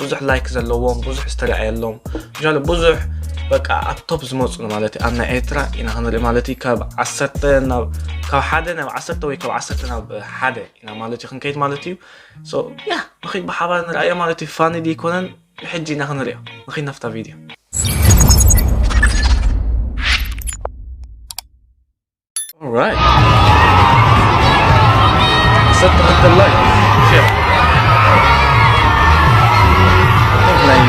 ብዙሕ ላይክ ዘለዎም ብዙሕ ዝተረኣየሎም ጃለ ብዙሕ በቃ ኣብ ቶፕ ዝመፁ ማለት እዩ ኣብ ናይ ኤርትራ ኢና ክንርኢ ማለት እዩ ካብ ዓሰርተ ናብ ካብ ሓደ ናብ ዓሰርተ ወይ ካብ ዓሰርተ ናብ ሓደ ኢና ማለት እዩ ክንከይድ ማለት እዩ ያ ንኸይድ ብሓባር ንርኣዮ ማለት እዩ ፋኒ ዘይኮነን ብሕጂ ኢና ክንሪኦ ንኸይድ ናፍታ ቪድዮ All right. Set the, the light. Shit. ላይ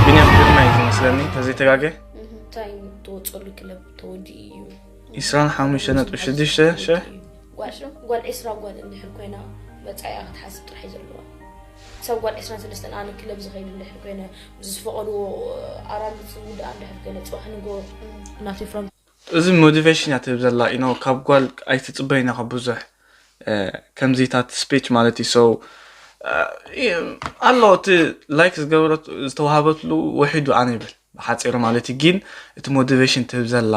ቢንያም ግርማ እዩ ዝመስለኒ ተዘይተጋገ እንታይ ተወፅሉ ክለብ ተወዲ እዩ 25.6 ሸ ጓል ጓል ዕስራ ጓል እንድሕር ኮይና መፃኢኣ ክትሓስብ ጥራሕ እዩ ዘለዋ ክሳብ ጓል ዕስራን ሰለስተን ኣነ ክለብ ዝኸይድ እንድሕር ኮይነ ምስ ዝፈቐድዎ ኣራሉ ዝውድኣ እንድሕር ኮይነ ፅባሕ ንጎ ናተይ ፍራንክ እዚ ሞቲቬሽን እያ ትህብ ዘላ ኢኖ ካብ ጓል ኣይትፅበይን ኢኻ ብዙሕ ከምዚታት ስፔች ማለት እዩ ሰው ኣሎ እቲ ላይክ ዝገበረት ዝተዋሃበትሉ ውሒዱ ኣነ ይብል ብሓፂሩ ማለት እዩ ግን እቲ ሞቲቬሽን ትህብ ዘላ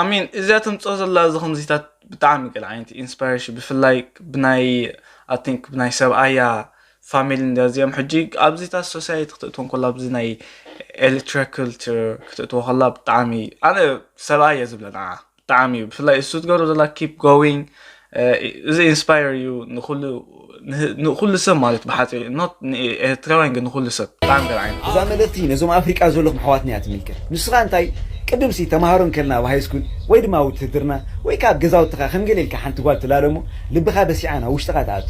ኣሜን እዚኣ ተምፅኦ ዘላ እዚ ከምዚታት ብጣዕሚ ገለ ዓይነት ኢንስፓሬሽን ብፍላይ ብናይ ኣቲንክ ብናይ ሰብኣያ ፋሚሊ እንዲያ እዚኦም ሕጂ ኣብዚታት ሶሳይቲ ክትእትዎ ከላ ኣብዚ ናይ ኤሌክትሪክልቸር ክትእትዎ ከላ ብጣዕሚ ኣነ ሰብኣየ ዝብለ ንዓ ብጣዕሚ እዩ ብፍላይ እሱ ትገብሮ ዘላ ኪፕ ጎዊንግ እዚ ኢንስፓየር እዩ ንኩሉ ሰብ ማለት ብሓፂሩ ኖት ንኤርትራውያን ግን ንኩሉ ሰብ ብጣዕሚ ገር ዓይነት እዛ መልእኽቲ ነዞም ኣፍሪቃ ዘለኹም ኣሕዋትና እያ ትምልከት ንስኻ እንታይ ቅድም ሲ ተምሃሮ እንከልና ኣብ ሃይስኩል ወይ ድማ ኣብ ውትህድርና ወይ ከኣ ኣብ ገዛውትኻ ከም ገለ ኢልካ ሓንቲ ጓል ትላለ እሞ ልብኻ በሲዓ ናብ ውሽጥኻ ትኣቱ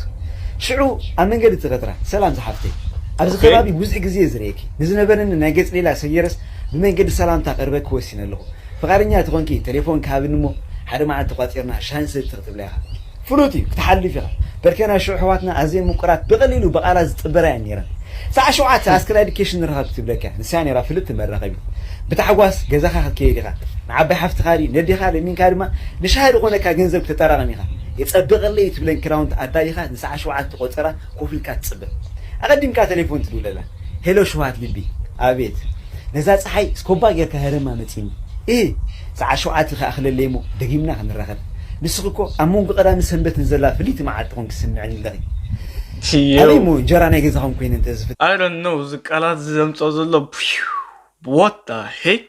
ሽዑ ኣብ መንገዲ ትቀትራ ሰላም ዝሓፍተይ ኣብዚ ከባቢ ብዙሕ ግዜ እየ ዝርእየኪ ንዝነበረኒ ናይ ገጽ ሌላ ሰጊረስ ብመንገዲ ሰላምታ ክቅርበኪ ወሲነ ኣለኹ ፍቃደኛ ተኾንኪ ተሌፎንኪ ሃብኒ እሞ ሓደ መዓልቲ ቋጺርና ሻሂ ንሰቲ ክትብላ ኢኻ ፍሉጥ እዩ ክትሓልፍ ኢኻ በርከ ናይ ሽዑ ኣሕዋትና ኣዝየን ምቁራት ብቀሊሉ ብቃላት ዝጥበራ እየን ኔረን ሳዕ ሸውዓተ ኣስክን ኣዲኬሽን ንራኸብ ክትብለካ እያ ንሳ ኔራ ፍልጥቲ መራኸቢት ብታሕጓስ ገዛኻ ክትከይድ ኢኻ ንዓባይ ሓፍትኻ ድዩ ነዴኻ ለሚንካ ድማ ንሻሂ ዝኾነካ ገንዘብ ክተጠራቅም ኢኻ የጸብቀለይ እዩ ትብለን ክራውንቲ ኣዳሊኻ ንሳዕ ሸውዓተ ቆጸራ ኮፍ ኢልካ ትጽበ ኣቀዲምካ ተሌፎን ትድውለላ ሄሎ ሽውሃት ልቢ ኣቤት ነዛ ጸሓይ ስኮባ ጌርካ ህረማ መጺኒ እህ ሰዓት ሸውዓተ ክኣክለለይ እሞ ደጊምና ክንራከብ ንስኪ እኮ ኣብ መንጎ ቀዳምን ሰንበትን ዘላ ፍልይቲ መዓልቲ ኮንኪ ትስምዕኒ ኣለኪ ኣበይ እሞ እንጀራ ናይ ገዛኩም ኮይነ እንተ I don't know እዚ ቃላት እዚ ዘምጽኦ ዘሎ what the heck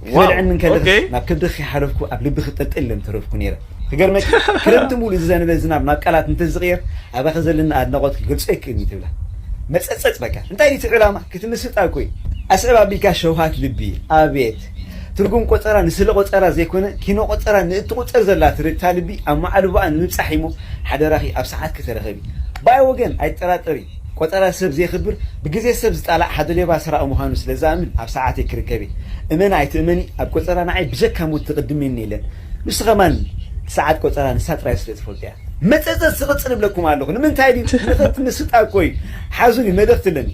ክበልዕን እንከለኽስ ናብ ከብድኺ ከይሓለፍኩ ኣብ ልብኺ ጠልጠል ኢለ ምተረፍኩ ነይረ። ክገርመኪ ክረምቲ ምሉእ ዝዘነበ ዝናብ ናብ ቃላት እንተዝቕየር ኣባኺ ዘለኒ ኣድናቖት ክገልጾ ኣይክእልን እዩ ትብላ። መጸጸጽ በቃ እንታይ ድዩ እቲ ዕላማ ክትምስጣ እኮ እዩ። ኣስዕብ ኣቢልካ ሸውሃት ልቢ ኣቤት ትርጉም ቆጸራ ንስለ ቆጸራ ዘይኮነ ኪኖ ቆጸራ ንእትቑጸር ዘላ ትርግታ ልቢ ኣመዓልቦኣ ንምብጻሕ እዩሞ ሓደራኺ ኣብ ሰዓትኪ ተረከቢ ባይ ወገን ኣይትጠራጠሪ። ቆጸራ ሰብ ዜኽብር ብግዜ ሰብ ዝጣላዕ ሓደ ሌባ ሰራቒ ምዃኑ ስለ ዝኣምን ኣብ ሰዓተይ ክርከብ እየ እመኒ ኣይትእመኒ ኣብ ቆጸራ ንዓይ ብጀካ ሞት ዝቕድመኒ የለን ንሱ ከማን እቲ ሰዓት ቆጸራ ንሳ ጥራይ ስለ ትፈልጦ እያ መጸጸት ዝቕጽል እብለኩም ኣለኹ ንምንታይ ድዩ ንኽት ምስጣ እኮ እዩ ሓዙኒ መልእኽቲ ኣለኒ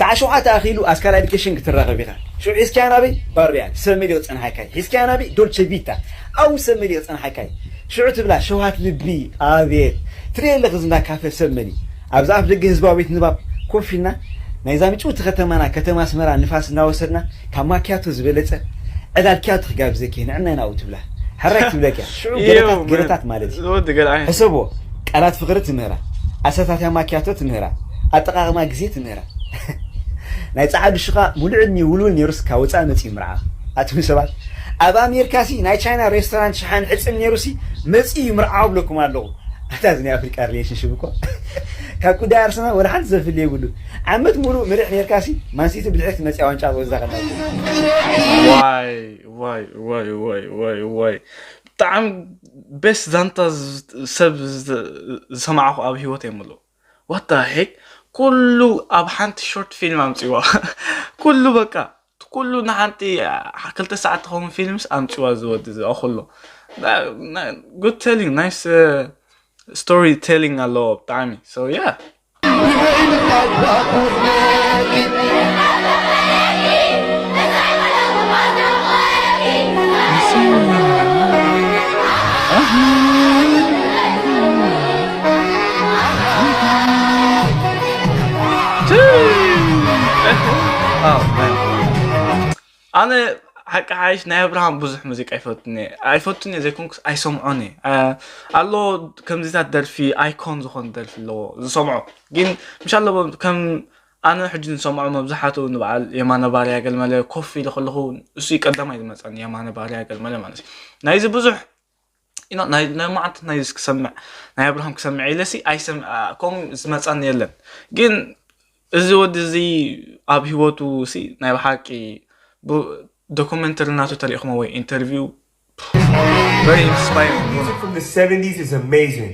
ሰዓት ሸውዓተ ኣኺሉ ኣስካል ኣዲኬሽን ክትራኸብ ኢኻ ሽዑ ሒዝካያ ናበይ ባርያ ሰብ መሊቑ ጸንሓካይ ሒዝካያ ናበይ ዶልቸ ቪታ ኣው ሰብ መሊቑ ጸንሓካይ ሽዑ ትብላ ሸውሃት ልቢ ኣቤት ትርእዮ ኣለኺ እዚ እንዳ ካፈ ሰብ መሊኡ ኣብዚ ኣፍ ደገ ህዝባዊ ቤት ንባብ ኮፍ ኢልና ናይዛ ምጭውቲ ከተማና ከተማ ኣስመራ ንፋስ እናወሰድና ካብ ማክያቶ ዝበለጸ ዕላል ኪያቶ ክጋብዘኪ እየ ንዕናይ ናብኡ ትብላ ሕራይ ክትብለኪ እያ ሽዑ ገለታት ገለታት ማለት እዩ ሕሰብዎ ቃላት ፍቕሪ ትምህራ ኣሰታትያ ማክያቶ ትምህራ ኣጠቓቕማ ግዜ ትምህራ ናይ ጸዓዱ ሽቃ ሙሉእ ዕድሚኡ ውልውል ኔሩስ ካብ ወጻኢ መጺኡ ምርዓ ኣቱም ሰባት ኣብ ኣሜርካ ሲ ናይ ቻይና ሬስቶራንት ሽሓን ሕጽን ኔሩ ሲ መጺኡ ዩ ምርዓው እብለኩም ኣለኩ ኣታ እዚ ናይ ኣፍሪቃ ሪሌሽን ሽብ እኮ ካብ ኩዳይ ኣርሰናል ወላ ሓንቲ ዘፍሊ የብሉን ዓመት ሙሉእ ምርዕ ኔርካ ሲ ማንሲቲ ብድሕሪቲ መጺኣ ዋንጫ ትወስዳ ከላ ብጣዕሚ ቤስ ዛንታ ሰብ ዝሰማዕኩ ኣብ ሂወት የምሉ ዋት ዘ ሄክ ኩሉ ኣብ ሓንቲ ሾርት ፊልም ኣምጽዋ ኩሉ በቃ ኩሉ ንሓንቲ ክልተ ሰዓት ትኸውን ፊልምስ ኣምጽዋ ዝወዲ ዝኣኹሎ ጉድ ቴሊንግ ናይስ ስቶሪ ቴሊንግ ኣለዎ ብጣዕሚ ሶ ያ ኣነ ሓቂ ሓይሽ ናይ ኣብርሃም ብዙሕ ሙዚቃ ኣይፈቱን እየ ኣይፈቱን እየ ዘይኮንኩስ ኣይሰምዖን እየ ኣሎ ከምዚታት ደርፊ ኣይኮን ዝኾን ደርፊ ኣለዎ ዝሰምዖ ግን ምሻ ኣሎ ከም ኣነ ሕጂ ዝሰምዖ መብዛሕትኡ ንበዓል የማነ ባርያ ገልመለ ኮፍ ኢለ ከለኹ እሱ ቀዳማይ ዝመፀኒ የማነ ባርያ ገልመለ ማለት እዩ ናይዚ ብዙሕ ኢና ናይ ናይ ማዓት ናይ ክሰምዕ ናይ ኣብርሃም ክሰምዕ ኢለሲ ኣይሰም ከም ዝመጻን የለን ግን እዚ ወዲ እዚ ኣብ ህይወቱ ሲ ናይ ብሓቂ ዶኩመንተሪ እናቱ ተሪኢኹሞ ወይ ኢንተርቪው very inspiring Music from the 70s is amazing.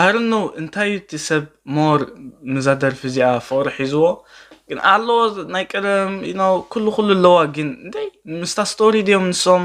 ኣርኖ እንታይ እቲ ሰብ ሞር ምዛ ደርፊ እዚኣ ፍቕሪ ሒዝዎ ግን ኣለዎ ናይ ቀደም ኩሉ ኩሉ ኣለዋ ግን እንታይ ምስታ ስቶሪ ድዮም ንሶም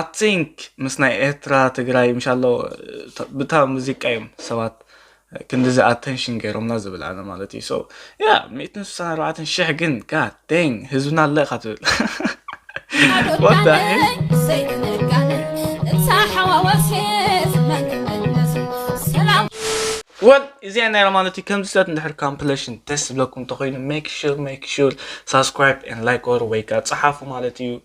ኣትንክ ምስ ናይ ኤርትራ ትግራይ ምሻሎ ብታ ሙዚቃ እዮም ሰባት ክንዲዚ ኣተንሽን ገይሮምና ዝብል ኣነ ማለት እዩ ሶ ያ ሚእትን ስሳን ኣርባዕተን ሽሕ ግን ጋድ ደን ህዝብና ኣለ እካ ትብል ወል እዚኣ ናይ ማለት እዩ ከምዚ ስለት እንድሕር ካምፕሌሽን ደስ ዝብለኩም እንተኮይኑ ሜክ ሹር ሜክ ሹር ሳብስክራይብ ን ላይክ ወር ወይ ከዓ ፀሓፉ ማለት እዩ